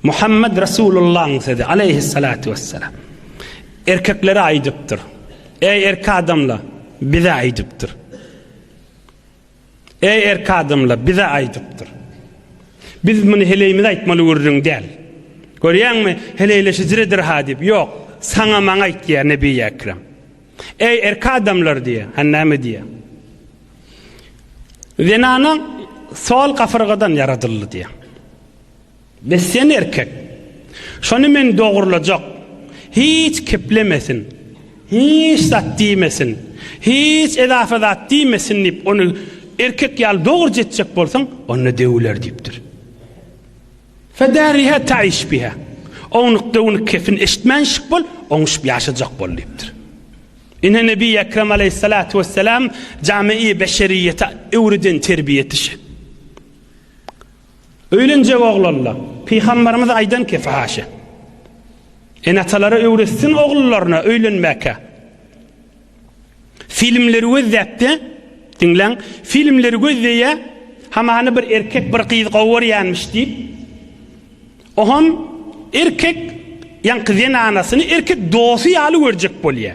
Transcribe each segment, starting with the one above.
Muhammed Resulullahyň sözi, aleýhissalatu wessalam, erkeklere aýdypdyr. Eý erki adamla, bize aýdypdyr. Eý erki adamla, bize aýdypdyr. Biz muny heleýimize aýtmaly gürrüň däl. Görýäňmi, heleýleşijidir ha diýip, ýok, saňa maňa aýt diýýär Nebi Ekrem. Eý erki adamlar diýýär, ha näme diýýär? Zenana sol gafyrgadan ýaradyldy diýýär. Be sen erkek. Şony men dogrulajak. Hiç keplemesin. Hiç zat diýmesin. Hiç edafa zat diýmesin diýip ony erkek ýaly dogruja etjek bolsaň, onda döwüler diýipdir. Fedariha taiş biha. Ownuk döwünik kepin eşitmän şyk bol, oňuşyp ýaşajak bol diýipdir. Ine Nebi Ekrem aleyhissalatu vesselam jami-i beşeriyete öwreden terbiýe etişi. Öýlenjek oglanlar, Pygamberimiz aýdan ki, Fahaşe. Ene-atalara öwretsin oglullaryna öýlenmäkä. Filmleri gözläpdi, diňläň, filmleri gözleýä, hamany bir erkek bir gyz gowarýanmyş diýip, oham erkek ýaňky zenanasyny erkek dosy ýaly görjek bolýa.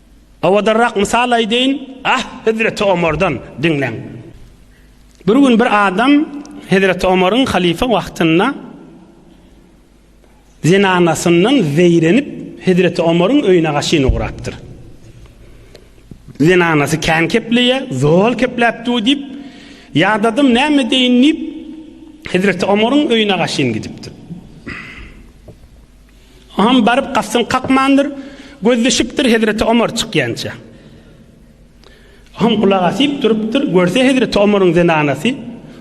Owadanrak mysal aýdaýyn, ah, hezreti Omardan diňläň. Bir gün bir adam hezreti Omaryň halyfa wagtynda zenanasyndan zeýrenip, hezreti Omaryň öýüne gaşyn ugrapdyr. Zenanasy kän kepleýär, zol kepläp dur diýip, ýadadym, näme edeýin diýip, hezreti Omaryň öýüne gaşyn gidipdir. Oňam baryp gapsyny kakmandyr, gözleşipdir hezreti Omar çykýança. Oňam gulak asyp durupdyr, görse hezreti Omaryň zenanasy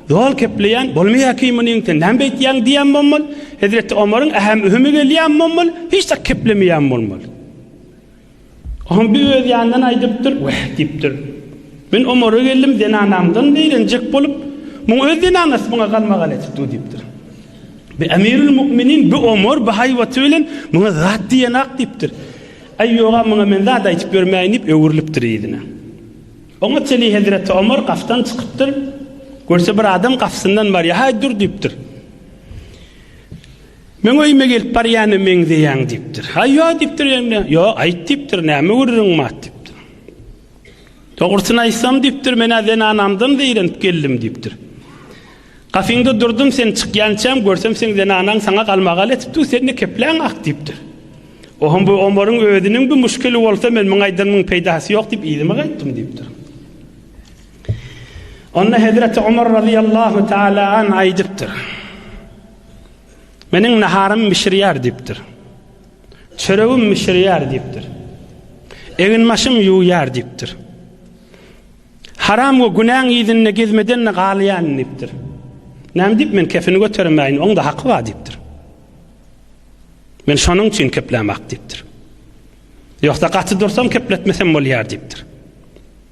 zol kepleýän, Bolmaýa ki munyň, sen näme beýtýäň diýen bolmaly, hezreti Omaryň ähem-ühümi gelýän bolmaly, hiç zat keplemeýän bolmaly. Hombi öz ýanyndan aýdypdyr, Wah! diýipdir. Men Omara geldim, zenanamdan zeýrenjek bolup, muň öz zenanasy muňa galmagal edip dur diýipdir. Bi Emirül Mu'minin, bi Omar, bi haýbaty bilen, muňa zat diýenak diýipdir. Aý, ýog-a, muňa men zat aýdyp ýörmäýin diýip, öwrülipdir yzyna. Oňa çenli hezreti Omar gapdan çykypdyr. Görse, bir adam gapysyndan barýar. Haý, dur diýipdir. Meň öýüme gelip barýana meňzeýäň diýipdir. Haý, ýok diýipdir Jemle. Ýok, aýt diýipdir, näme gürrüň mat diýipdir. Dogrusyny aýtsam diýipdir, men-ä zenanamdan zeýrenip geldim diýipdir. Gapyňda durdum, sen çykýançam, görsem seň zenanaň saňa galmagal etipdi, sen-de kepläň ak diýipdir. Ohum bu Omaryň özüniň bir muşkili bolsa, men muň aýdanymyň peýdasy ýok diýip yzyma gaýtdym diýipdir. Onda Hezreti Omar razyýallahu taala an aýdypdyr. Meniň naharym bişirýär diýipdir. Çöregim bişirýär diýipdir. Eginbaşym ýuwýar diýipdir. Haram we günäň yzynda gezmeden-de galýan diýipdir. Näme diýip men kefini götermäýin, oň-da haky bar diýipdir. Men şonuň üçin keplämok diýipdir. Ýogsa gaty dursam kepletmesem bolýar diýipdir.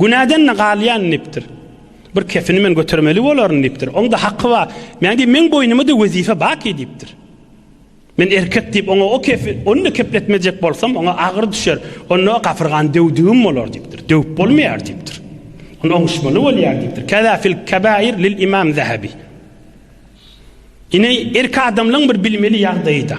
Günäden-de galýan diýipdir. Bir kefini men götermeli bolaryn diýipdir. Oň-da haky bar. Men diýip, meň boýnuma-da wezipe baky diýipdir. Men erkek diýip, oňa o kefi, ony-da kepletmejek bolsam, oňa agyr düşer. Onda o gafyrgany döwdügim bolar diýipdir. Döwüp bolmaýar diýipdir. Ony oňuşmaly bolýar diýipdir. Kaza fil kabair lil imam Zahabi. Ine, erk adamlaryň bir bilmeli ýagdaýy-da.